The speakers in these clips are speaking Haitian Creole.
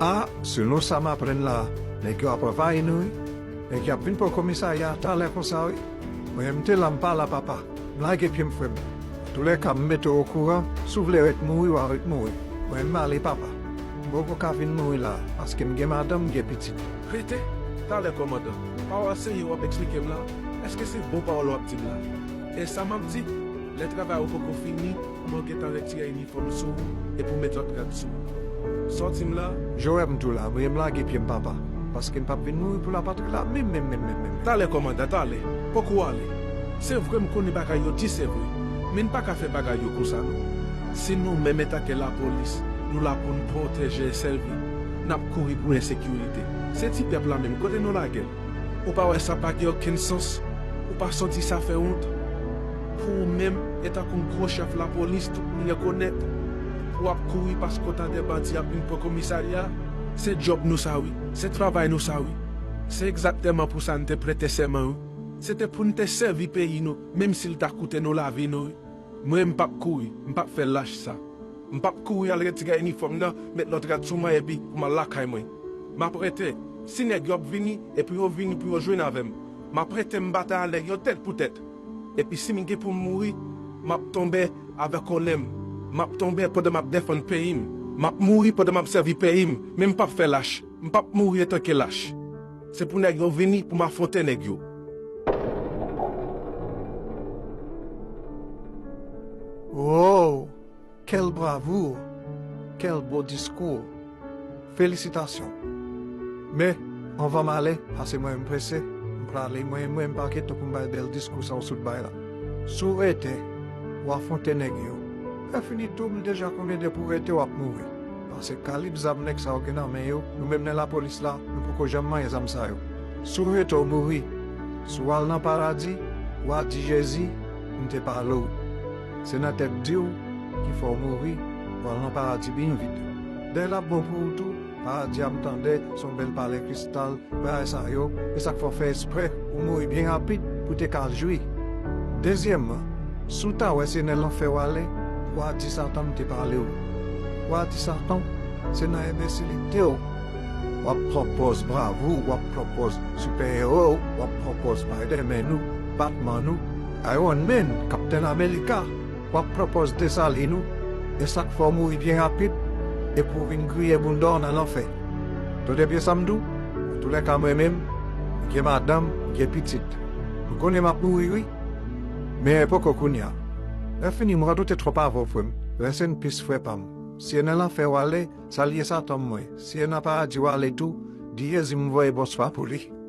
Ah selon sa m aprann la nèg yo ap anvayi nou wi nèg yo ap vin pran komisarya a talè konsa wi mwen m te la m pa la papa m lage pye m frè m antoulèka m mete w okouran si w vle ret mouri wa ret mouri mwen m ale papa m poko ka vin mouri la paske m gen madanm m gen pitit. Rete talè kòmandan. Pawòl senyè w ap eksplike m la èske se bon pawòl w ap di m la? E sa map di, lè travay ou poko fini mwen gentan retire inifòm sou ou epi ou met lòt rad sou ou. Sòti m la. Joab, M tou la, mwen m lage pye m papa, paske m pap vin mouri pou lapatri la menm menm menm menm menm. Talè kòmandan, talè, fòk ou ale. Se vre m konnen bagay yo di se vre, men n paka fè bagay yo konsa non. Si nou menm etanke lapolis nou la pou n pwoteje e sèvi, nap kouri pou ensekirite. Se ti pèp la menm kote nou lagel? Ou pa wè sa pa gen okenn sans, ou pa santi sa fè wont? Pou ou menm, etan kon gwo chèf lapolis tout moun rekonèt, pou w ap kouri paske w ta dè bandi ap vin pran komisarya a? Se djòb nou sa wi, se travay nou sa wi, se egzakteman pou sa n te prete sèman wi. Se te pou n te sèvi peyi nou, menm si l ta koute nou lavi nou wi. Mwen m pap kouri, m pap fè lach sa. M pap kouri al retire inifòm nan, met lòt rad sou mwen epi pou m al lakay mwen. M ap rete. Si nèg yo ap vini e pou yo vini pou yo jwenn avè m, m ap rete m batay a nèg yo tèt pou tèt. Epi si m gen pou m mouri, m ap tonbe avèk onè m. M ap tonbe pandan m ap defann peyi m. M ap mouri pandan m ap sèvi peyi m. Men m pap fè lach. M pap mouri etanke lach. Se pou nèg yo vini pou m afwonte nèg yo. Woww quelle bravoure quelle beau discours felisitasyon men anvan m ale pase mwen m prese m prale mwen mwen pa gen tan pou m bay bèl diskou sa w sot bay la si w rete w afwonte nèg yo lè fini tou m deja konnen depi w rete w ap mouri. Pase kalib zam nèg sa yo gen nan men yo, nou menm nan lapolis la, nou poko janm manyen zam sa yo. Si w rete w mouri, si w al nan paradi, wa di Jezi, m te pale w. Se nan tèt di w ki fè w mouri, w al nan paradi byen vit. Dèy la bon pou w tou, paradi a m tande, se yon bèl pale Kristè. Tal bagay sa yo, e sa k fè w fè espre ou mouri byen rapid pou w te ka al jwi. Dezyèmman, si w ta wè se nan lanfè w ale, w a di Satan m te pale w. W a di Satan se nan enbensilite w w ap pran pòz bravou, w ap pran pòz sipèewo, w ap pran pòz Spiderman ou, Batman ou, Iron Man, Kaptenn Amerika. Wap pran pòz Desalin ou e sak fè w mouri byen rapid epi w vin griyen bounda w nan lanfè. Tande byen sa m di w, antoulèka mwen menm, m gen madanm, m gen pitit. M konnen map mouri wi, men poko kounya. Lèfini m radote twòp avè w frè m, rès n pis frè pa m. Si e nan lanfè w ale, salye Satan m mwen, si e nan paradi w ale tou, di Jezi m voye bonswa pou li.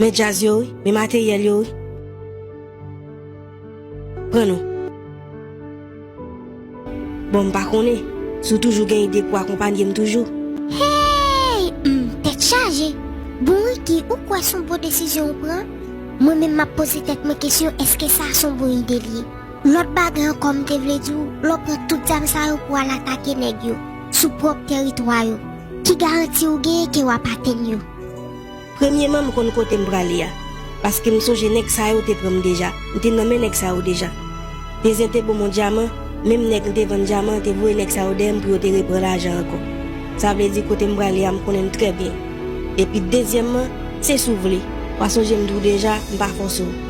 Men djaz yo wi, men materyèl yo wi. Pran nou. Bon m pa konnen si w toujou gen ide pou akonpanye m toujou. Hey! Humm tèt chaje! Bon Ricky ou kwè son bon desizyon ou pran? Mwen menm map poze tèt mwen kesyon eske sa son bon ide li ye? Lòt bagay ankò m te vle di w, lè w pran tout zam sa yo pou w al atake nèg yo sou pwòp tèritwa yo, ki garanti ou genyen ke w ap atenn yo? Premyeman m konn kote m prale a, paske m sonje nèg sa yo te pran m deja, m te nan men nèg sa yo deja. Tezyen te bo m yon dyaman, menm nèg m te vann dyaman an te voye nèg sa yo dèyè m pou yo te repran lajan ankò. Sa vle di kote m prale a m konnen l trè byen. Epi dezyèmman, se si w vle, w a sonje m di w deja, m pa fòse w.